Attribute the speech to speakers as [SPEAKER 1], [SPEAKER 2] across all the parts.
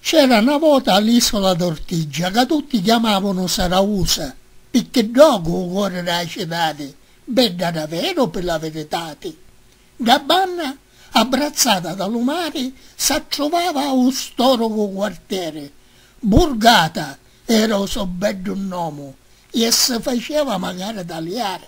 [SPEAKER 1] C'era 'na vota a l'Isola d'Ortigia ca tutti chiamavunu Sarausa, picchì ddocu 'u cori d' 'a citati, bedda daveru pi la viritati, dda banna abbrazzata da lu mari s'attruvava 'u stòrucu quartieri, Burgata era 'u so beddu nnomu, e si faceva macari taliari.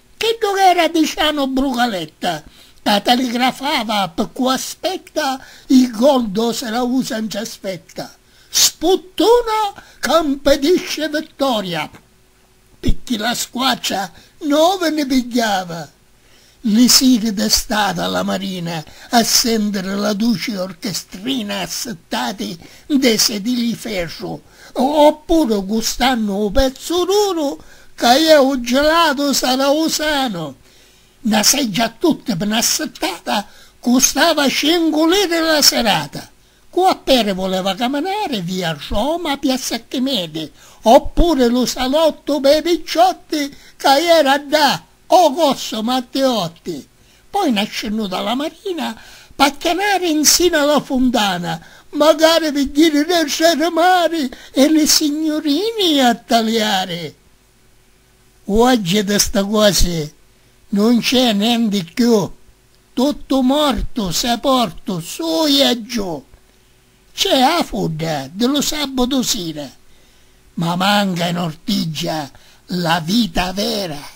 [SPEAKER 1] Chiddu ch'era di Cianu Brucaletta ca taligrafava p'ccu aspetta i gol do Serausa nci aspetta, sputtuna ca mpedisce vittoria picchì la squatra novi ni pigghiava. Li siri d'estati a la marina a sentiri la duci orchestrina assittati ntê sedili i ferru Oppuru gustannu u pezzu duru ca iè u gelatu sarausanu. Na seggia a tutti pi na sittata custava cincu liri la sirata. Cu a peri vuleva caminari via Roma piazza Archimedi oppuri lu salottu pei picciotti ca iera ddà o cosso Matteotti. Poi nascennu da la marina p'acchianari nsina a la funtana magari pi jiri de srmari e li signurini a taliari. Uoggi di sti cosi nun nc'è nenti cchiù, tuttu mortu, seportu, su e aggiù. Nc'è a fudda di lu sabbutu sira, ma manca in ortiggia la vita vera.